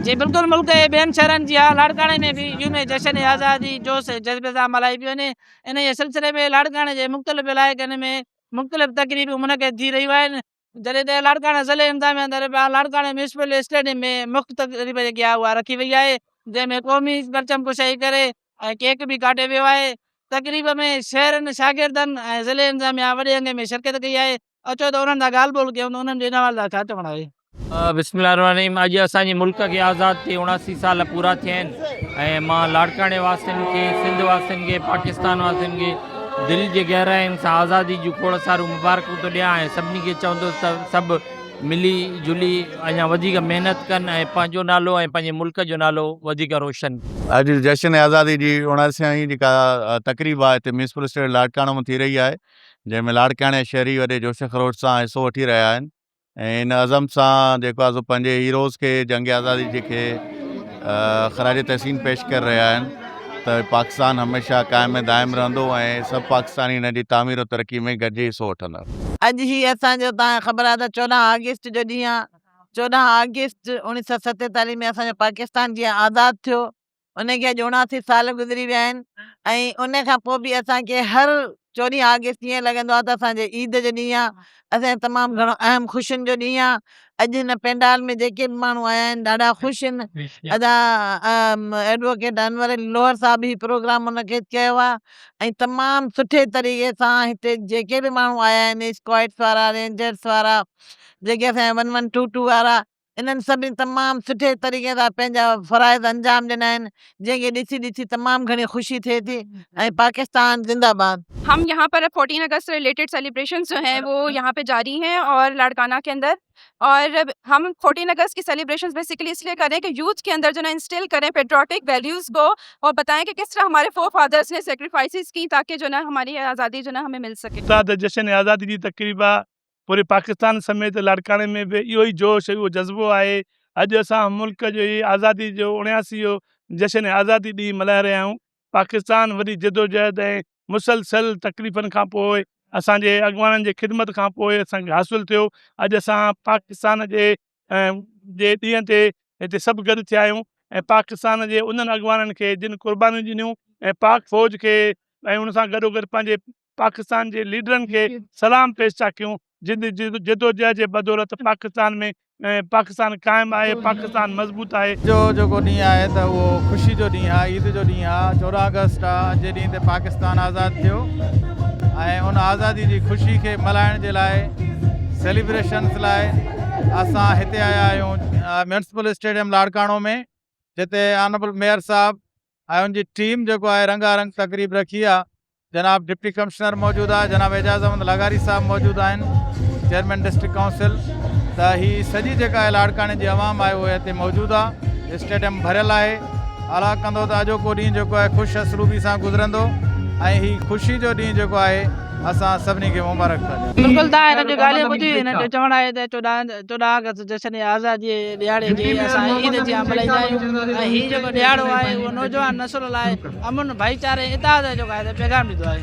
جي بلڪل ملڪ ۽ ٻين شهرن جيان لاڙڪاڻي ۾ به يوم جشن آزادي جوش ۽ جذبي سان ملهائي پيو وڃي انهيء سلسلي ۾ لاڙڪاڻي جي مختلف علائقن ۾ مختلف تقريبون منعقد ٿي رهيون آهن جڏهن ته لاڙڪاڻي ضلعي انتظاميه اندر لاڙڪاڻي ميونسپل اسٽيڊيم ۾ مک تقريب جيڪي آهي اها رکي وئي آهي جنهن ۾ قومي پرچم ڪشائي ڪري ۽ ڪيڪ به ڪاٽيو ويو آهي تقريب ۾ شهرين شاگردن ۽ ضلعي انتظاميه وڏي انگ ۾ شرڪت ڪئي آهي اچو ته انهن سان ڳالهه ٻولهه ڪيون ته انهن جي ان حوالي سان ڇا چوڻ آهي. بسم الله الرحمٰن الرحيم اڄ اسان جي ملڪ کي آزاد ٿئي اڻاسي سال پورا ٿيا آهن ۽ مان لاڙڪاڻي واسين کي سنڌ واسين کي پاڪستان واسين کي دل جي گهراين سان آزادي جون کوڙ ساريون مبارڪون ٿو ڏيان ۽ سڀني کي چوندس ته سڀ ملي جلي اڃا وڌيڪ محنت ڪن ۽ پنهنجو نالو ۽ پنهنجي ملڪ جو نالو وڌيڪ روشن ڪن. اڄ جشن آزادي جي اڻاسيائين جيڪا تقريب آهي هتي ميونسپل اسٽيڊيم لاڙڪاڻو ۾ ٿي رهي آهي جنهن ۾ لاڙڪاڻي جا شهري وڏي جوش خروش سان حصو وٺي رهيا آهن ۽ ان عزم سان جيڪو آهي سو پنهنجي هيروز کي جنگ آزادي جي کي خراج تحسين پيش ڪري رهيا آهن ته پاڪستان هميشه قائم ۽ دائم رهندو ۽ سڀ پاڪستاني ان جي تعمير ۽ ترقي ۾ گڏجي حصو وٺندا. اڄ هي اسان جو توهان کي خبر آهي ته چوڏهن آگسٽ جو ڏينهن آهي چوڏهن آگسٽ اوڻيهه سؤ ستيتاليهه ۾ اسان جو پاڪستان جيئن آزاد ٿيو ان کي اڄ اڻاسي سال گذري ويا آهن ۽ ان کان پوء به اسان کي هر چوڏهين آگسٽ ائين لڳندو آهي ته اسان جي عيد جو ڏينهن آهي اسان جي تمام گهڻو اهم خوشين جو ڏينهن آهي اڄ هن پينڊال ۾ جيڪي به ماڻهو آيا آهن ڏاڍا خوش آهن ادا ايڊووڪيٽ انور علي لوهر صاحب هي پروگرام منعقد ڪيو آهي ۽ تمام سٺي طريقي سان هتي جيڪي به ماڻهو آيا آهن اسڪوائڊس وارا رينجرس وارا جيڪي اسان جا ون ون ٽو ٽو وارا انهن سڀني تمام سٺي طريقي سان پنهنجا فرائض انجام ڏنا آهن جنهن کي ڏسي ڏسي تمام گهڻي خوشي ٿئي ٿي ۽ پاڪستان زنده باد. هم يهان پر فورٽين اگست سي رليٽيڊ سيليبريشنس جو هين وو يهان پي جاري هين اور لاڙڪانا ڪي اندر اور هم فورٽين اگست ڪي سيليبريشنس بيسيڪلي اس لئي ڪرين ڪي يوٿ ڪي اندر جو نا انسٽيل ڪرين پيٽريوٽڪ ويليوز ڪو اور بتاين ڪي ڪس طرح هماري فور فادرس ني سيڪريفائسز ڪي تاڪي جو نا هماري آزادي جو نا همي مل سڪي. استاد جشن آزادي جي تقريبا پوري پاڪستان سميت لاڙڪاڻي ۾ به اهو ئي جوش اهو جذبو آهي اڄ اسان ملڪ جي آزادي جو اڻياسي جو جشن آزادي ڏينهن ملهائي رهيا آهيون پاڪستان وڏي جدوجهد ۽ مسلسل تڪليفن کان پوء اسان جي اڳواڻن جي خدمت کان پوء اسان کي حاصل ٿيو اڄ اسان پاڪستان جي جي ڏينهن تي هتي سڀ گڏ ٿيا آهيون ۽ پاڪستان جي انهن اڳواڻن کي جن قربانيون ڏنيون ۽ پاڪ فوج کي ۽ ان سان گڏوگڏ پنهنجي پاڪستان جي ليڊرن کي سلام پيش ٿا ڪيون جن جي جدوجهد جي بدولت پاڪستان ۾ پاڪستان قائم آهي پاڪستان مضبوط آهي. اڄ جو جيڪو ڏينهن آهي ته اهو خوشي جو ڏينهن آهي عيد جو ڏينهن آهي چوڏهن آگسٽ آهي اڄ جي ڏينهن تي پاڪستان آزاد ٿيو ۽ ان آزادي جي خوشي کي ملهائڻ جي لاء سيليبريشنس لاء اسان هتي آيا آهيون ميونسپل اسٽيڊيم لاڙڪاڻو ۾ جتي آنربل ميئر صاحب ۽ ان جي ٽيم جيڪو آهي رنگا رنگ تقريب رکي آ جناب ڊپٽي ڪمشنر موجود آ جناب اعجاز احمد لغاري صاحب موجود آهن چيئرمين ڊسٽرڪٽ ڪائونسل ته هي سڄي جيڪا آهي لاڙڪاڻي جي عوام آهي اهي هتي موجود آ اسٽيڊيم ڀريل آهي الا ڪندو ته اڄوڪو ڏينهن جيڪو آهي خوش اسلوبي سان گذرندو ۽ هي خوشي جو ڏينهن جيڪو آهي اسان سڀني کي مبارڪ ٿا ڏيون بلڪل ته هن جو ڳالهيون ٻڌي هنن جو چوڻ آهي ته چوڏهن توڏانهن ڪس جشن آزاديء جي ڏهاڙي کي اسان عيد جيان ملهائيندا آهيون ۽ هي جيڪو ڏهاڙو آهي اهو نوجوان نسل لاء امن، ڀائيچاري ۽ اتحاد جو جيڪو آهي پيغام ڏيندو آهي.